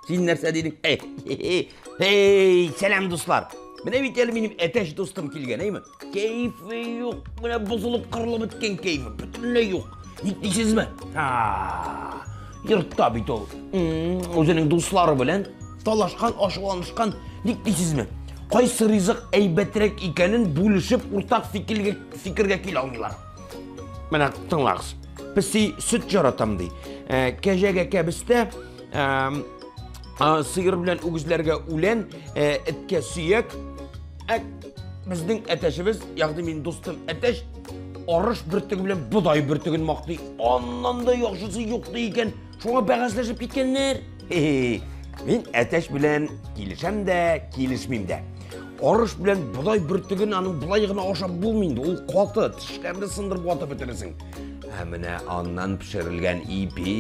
Син нәрсә дидең? Эй, сәлам, дуслар. Менә бит әле минем әтәч дустым килгән, әйме? Кәйфе юк. Менә бозылып кырылып беткән кәйфе бөтенләй юк. Ник дисезме? Йортта бит ул. Үзенең дуслары белән талашкан, ашуланышкан. Ник дисезме? Кайсы ризык әйбәтрәк икәнен бүлешеп, уртак фикергә фикергә килә алмыйлар. Менә тыңлагыз. Песи сөт жаратам ди. Ә, кәҗәгә кәбестә, ә, сыер белән үгезләргә үлән, ә, эткә сөяк, Әк, безнең әтәшебез, ягъни мин дустым әтәш, арыш бөртеге белән бодай бөртеген мактый. Аннан да яхшысы юк ди икән. Шуңа бәхәсләшеп киткәннәр. Мин әтәш белән килешәм дә, килешмим дә. Арыш белән бодай бөртеген аның болай гына ашап булмый инде. Ул каты, тешкәнне сындырып ватып бетересең. Ә менә аннан пешерелгән ипи,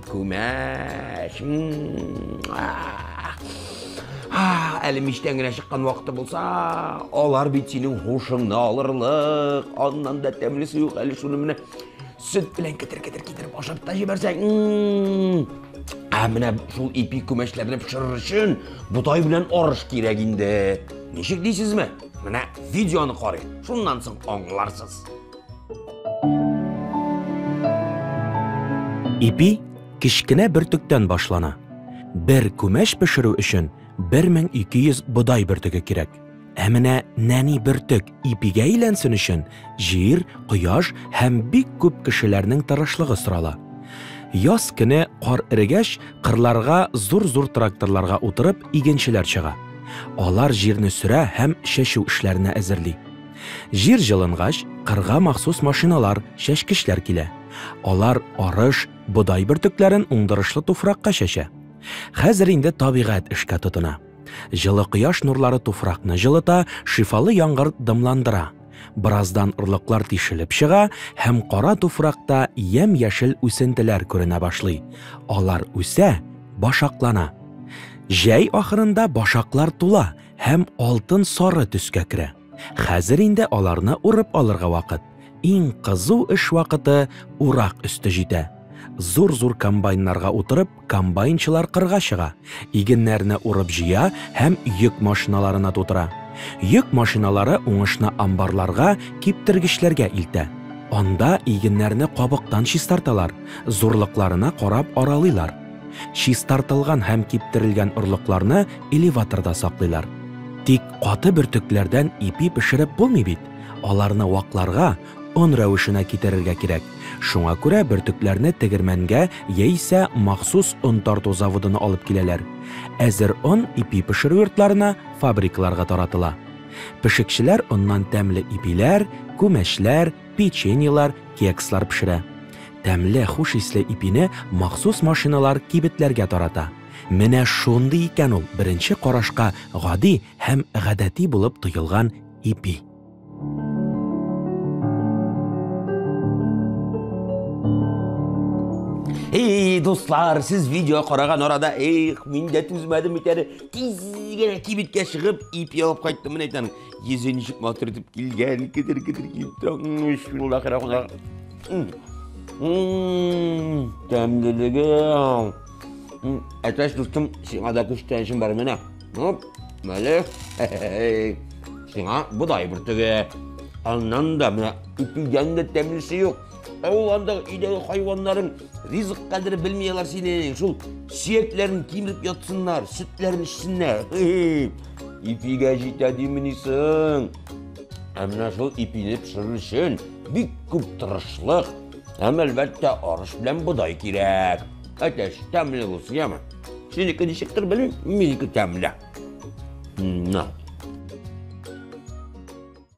күмәч. Әле мичтән генә чыккан вакыты булса, алар бит синең хушыңны алырлык. Аннан да тәмлесе юк, әле шуны менә сөт белән кетер-кетер китереп ашап та җибәрсәң. Ә менә шул ипи күмәчләрне пешерер өчен ботай белән арыш кирәк инде. Ничек дисезме? Менә видеоны карыйк, шуннан соң аңларсыз. Ипи кечкенә бөртектән башлана. Бер күмәч пешерү өчен 1200 бодай бөртеге кирәк. Ә менә нәни бөртек ипигә әйләнсен өчен җир, кояш һәм бик күп кешеләрнең тырышлыгы сорала. Яз көне кар эрегәч, кырларга зур-зур тракторларга утырып игенчеләр чыга. Алар җирне сөрә һәм чәчү эшләренә әзерли. Җир җылынгач, кырга махсус машиналар, чәчкечләр килә. Алар арыш, бодай бөртекләрен уңдырышлы туфракка чәчә. Хәзер инде табигать эшкә тотына. Җылы кояш нурлары туфракны җылыта, шифалы яңгыр дымландыра. Бераздан орлыклар тишелеп чыга һәм кара туфракта ямь-яшел үсентеләр күренә башлый. Алар үсә, башаклана. Җәй ахырында башаклар тула һәм алтын-сары төскә керә. Хәзер инде аларны урып алырга вакыт. Иң кызу эш вакыты урак өсте җитә. Зур-зур комбайннарга утырып, комбайнчылар кырга чыга, игеннәрне урып җыя һәм йөк машиналарына тутыра. Йөк машиналары уңышны амбарларга, киптергечләргә илтә. Анда игеннәрне кабыктан чистарталар, зурлыкларына карап аралыйлар. Чистартылган һәм киптерелгән орлыкларны элеваторда саклыйлар. Тик каты бөртекләрдән ипи пешереп булмый бит, аларны вакларга, он рәвешенә китерергә кирәк. Шуңа күрә бөртекләрне тегермәнгә яисә махсус он тарту заводына алып киләләр. Әзер он ипи пешерү йортларына, фабрикаларга таратыла. Пешекчеләр оннан тәмле ипиләр, күмәчләр, печеньелар, кекслар пешерә. Тәмле, хуш исле ипине махсус машиналар кибетләргә тарата. Менә шундый икән ул беренче карашка гади һәм гадәти булып тоелган ипи. Эй, дуслар, сез видео караган арада, эх, мин дә түзмәдем бит әле. Тиз генә кибеткә чыгып, ипи алып кайттым, менә әйтәм. Йөзен ничек матур итеп килгән, кедер-кедер килеп тора. Бисмиллахи рахман. Тәмлелеге. Әтәш дустым, сиңа да күчтәншем бар менә. Оп, мәле. Сиңа бодай бөртеге. Аннан да менә ипидән дә тәмлесе юк. Авыл андагы өйдәге хайваннарың ризык кадерен белми алар синең. Шул сөякләрен кимереп ятсыннар, сөтләрен эчсеннәр. Ипигә җитә димени соң. Ә менә шул ипине пешерер өчен бик күп тырышлык һәм әлбәттә арыш белән бодай кирәк. Әтәч, тәмле булсын, яме. Синеке ничектер белмим, минеке тәмле. На.